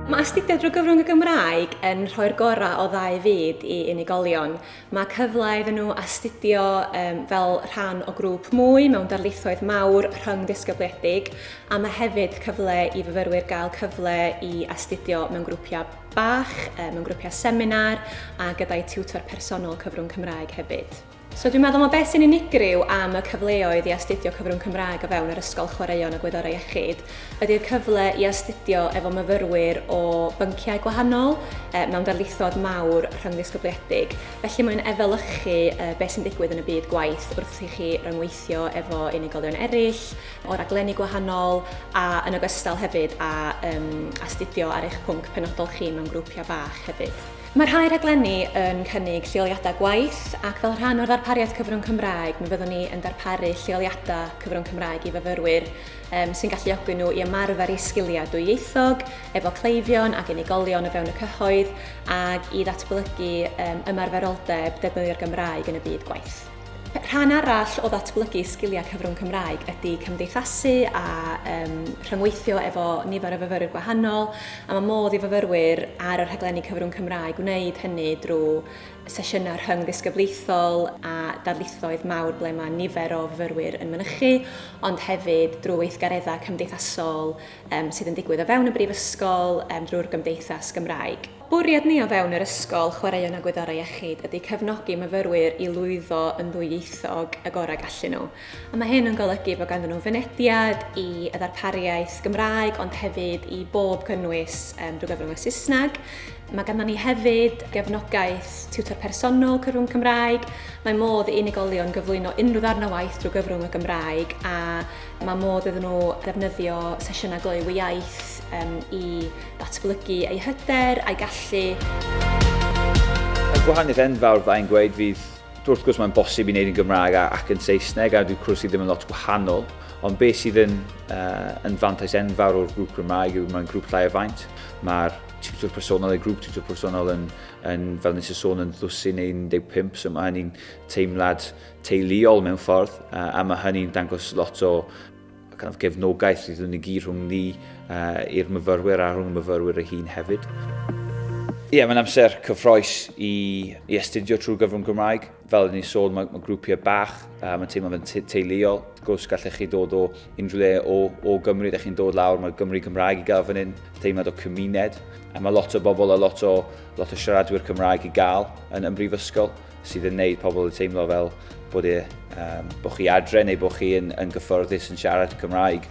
Mae astudio drwy gyfrwng y Gymraeg yn rhoi'r gorau o ddau fyd i unigolion. Mae cyfle iddyn nhw astudio um, fel rhan o grŵp mwy mewn darlithoedd mawr rhyng ddisgybliedig a mae hefyd cyfle i fyfyrwyr gael cyfle i astudio mewn grwpiau bach, mewn grwpiau seminar a gyda'i tiwtor personol cyfrwng Cymraeg hefyd. So dwi'n meddwl mae beth sy'n unigryw am y cyfleoedd i astudio cyfrwng Cymraeg o fewn yr Ysgol Chwaraeon a Gwyddorau Iechyd ydy'r cyfle i astudio efo myfyrwyr o bynciau gwahanol e, mewn darlithod mawr rhyngddisgybliedig. Felly mae'n efelychu e, beth sy'n digwydd yn y byd gwaith wrth i chi ryngweithio efo unigolion eraill o raglenni gwahanol a yn ogystal hefyd a um, astudio ar eich pwnc penodol chi mewn grwpiau bach hefyd. Mae rhai rhaglenni yn cynnig lleoliadau gwaith ac fel rhan o'r ddarpariaeth cyfrwng Cymraeg mi fyddwn ni yn darparu lleoliadau cyfrwng Cymraeg i fyfyrwyr um, sy'n galluogi nhw i ymarfer eu sgiliau dwyieithog efo cleifion ac unigolion o fewn y cyhoedd ac i ddatblygu um, ymarferoldeb defnyddio'r Gymraeg yn y byd gwaith. Rhan arall o ddatblygu sgiliau cyfrwng Cymraeg ydy cymdeithasu a um, rhyngweithio efo nifer o fyfyrwyr gwahanol a mae modd i fyfyrwyr ar y rhaglenni cyfrwng Cymraeg wneud hynny drwy sesiynau rhyng ddisgyblaethol a darlithoedd mawr ble mae nifer o fyfyrwyr yn mynychu, ond hefyd drwy weithgareddau cymdeithasol um, sydd yn digwydd o fewn y brifysgol um, drwy'r gymdeithas Gymraeg. Bwriad ni o fewn yr ysgol, chwaraeon a gwyddorau iechyd ydy cefnogi myfyrwyr i lwyddo yn ddwyieithog y gorau gallu nhw. A mae hyn yn golygu bod ganddyn nhw fynediad i y ddarpariaeth Gymraeg ond hefyd i bob cynnwys um, drwy gyfrwng y Saesneg. Mae ganddyn ni hefyd gefnogaeth tiwtor personol cyfrwng Cymraeg. Mae modd i unigolion gyflwyno unrhyw ddarn o waith drwy gyfrwng y Gymraeg a mae modd iddyn nhw ddefnyddio sesiynau gloyw iaith um, i Datblygu ei hyder a'i gallu. Y gwahaniaeth enfawr fydda i'n gweud fydd, wrth gwrs mae'n bosib i wneud yn Gymraeg ac yn Saesneg a dyw cwrs i ddim yn lot gwahanol, ond beth sydd yn, uh, yn fantais enfawr o'r grŵp Gymraeg yw mae'n grŵp llai o faint. Mae'r tiwtor personol, neu grŵp tiwtor personol yn, yn fel nes y sôn, yn ddwsin neu 15, so mae hynny'n teimlad teuluol mewn ffordd, a, a mae hynny'n dangos lot o Ac yn gefnogaeth sydd yn y gyd rhwng ni uh, i'r myfyrwyr a rhwng y myfyrwyr ei hun hefyd. Ie, yeah, mae'n amser cyffroes i, i astudio trwy gyfrwng Gymraeg. Fel ni'n sôn, mae, mae grwpiau bach, uh, mae'n teimlo fe'n teuluol. Wrth gwrs, gallech chi dod o unrhyw le o, o Gymru, da chi'n dod lawr, mae Gymru Cymraeg i gael fan hyn, teimlad o cymuned. A mae lot o bobl a lot o, lot o siaradwyr Cymraeg i gael yn, yn brifysgol. sydd yn neud pobl yn teimlo fel bod, e, um, bod chi adre neu bod chi yn, yn gyfforddus yn siarad Cymraeg.